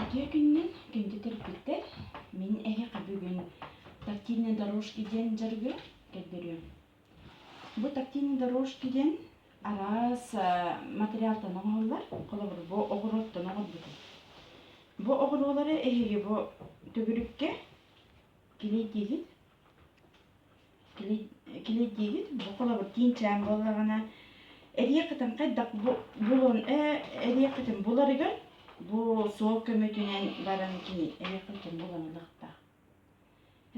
Дьэ күннүн күндү төрөппүттэр, мин эһиэхэ бүгүн «Тактильные дорожки» диэн дьарыгы көрдөрүөм. Бу «Тактильные дорожки» диэн араас материалтан оҥоһуллар, холобур, бу оҕуруоттан оҥорбутум. Бу оҕуруолары эһиги бу төгүрүккэ кини диилит Килэдиигит бу холобур киинчээн буоллаҕына эрийэ кытын хайдах булун эрийэ кытын буларыгар бу суол көмөтүнэн баран кини эрийэ кытын булан ылыахтаах.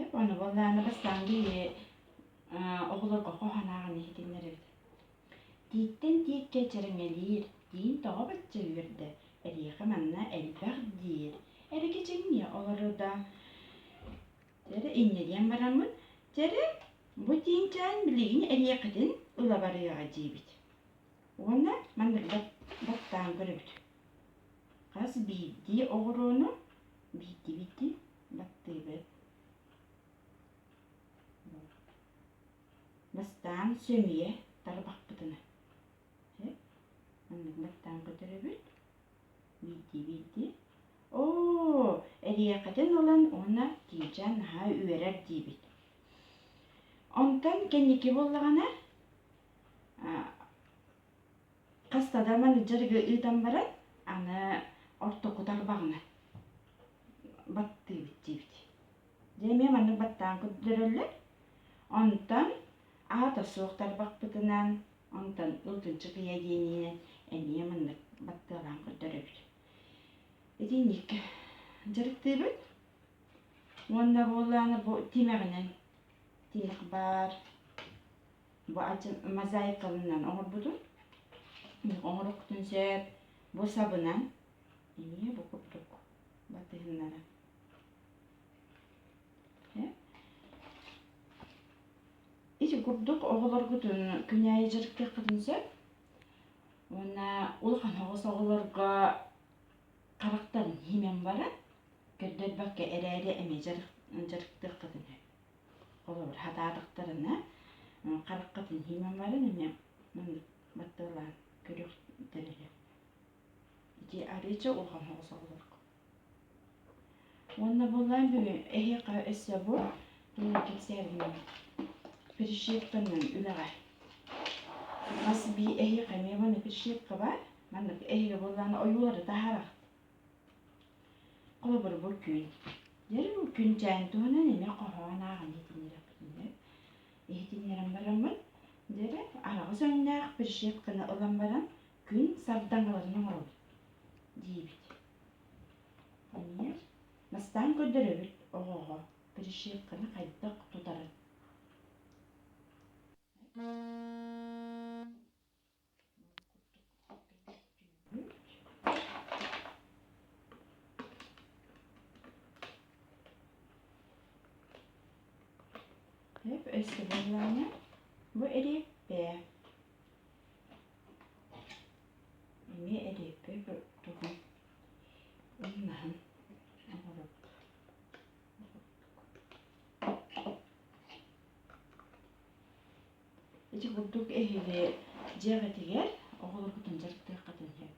Эп ону буоллаана бастаан били оҕолорго хоһанаҕын иһитиннэрэбит. Тииттэн тииккэ чэрэҥэлиир, тиин тоҕо бачча үөрдэ, эриэхэ манна элбэх диир, эрэ кичиҥниэ олору да Чэрэ иннэлиэн бараммын, чэрэ, бу тиинчээн билигин эриэкэтин ыла барыаҕа диибит. Уонна маннык баттаан көрөбүт. Хас биирдии оҕуруону биирдии-биирдии баттыыбыт. Бастаан сөмүйэ тарбахпытына. Маннык баттаан көтөрөбүт. биирдии биирдии оо эриэкэтин ылан уонна тиичэ наһаа үөрэр диибит онтон кэнники буоллаҕына хаста да менеджер ыытан баран аны орто кутар баҕана баттыыбыт диибит дьэ эмиэ маннык баттаан көрдөрөллөр онтон аата суох тарбахпытынан Онтон ылгынчык ыйа диэн иһинэн эмиэ маннык баттыалаан көрдөрөбүт. Итинниккэ дьарыктыыбыт. Уонна буоллааны бу тимэҕинэн тимэх баар бу ачын мозаикалынан оҥорбутун оҥорохтун сөп бу сабынан эмиэ бу курдук батыһыннаран ити курдук оҕолоргут күнээйи дьарыктыаххытын сөп уонна улахан оҕос оҕолорго харахтан иһимэҥ баран көрдөрбөккө эрээри эмиэ дьарыктыаххытын сөп холобур сатаатахтарына хараххытын иһимэҥ баран эмиэ маннык батталаан көрүөхтэрэ сөп ити арыыча улахан оҕос оҕолорго уонна буоллаан бүгүн эһиэхэ өссө бу тугунан кэпсээтиҥ перешивканан үлэҕэ мас бии эһиэхэ эмиэ манна перешивка баар манна эһиги буоллаан ойуулары таһарах холобур бу күн дьэри бу күн дьээн туһунан эмиэ хоһоон ааҕан иһитиннэрэппитинэ иһитиннэрэн бараммын дьэрэ араҕыс өҥнөөх перешивканы ылан баран Күн сардаҥаларын оҥоробут диибит. Эмиэ Настаан көрдөрөбүт оҕоҕо перешивканы хайдах тутарын. Hep өссө bu ereği B. эмиэ эриэппэй курдугум ымнаһын ити курдук эһиги дьиэҕитигэр оҕолоргутун дьарыктыаххытын сөп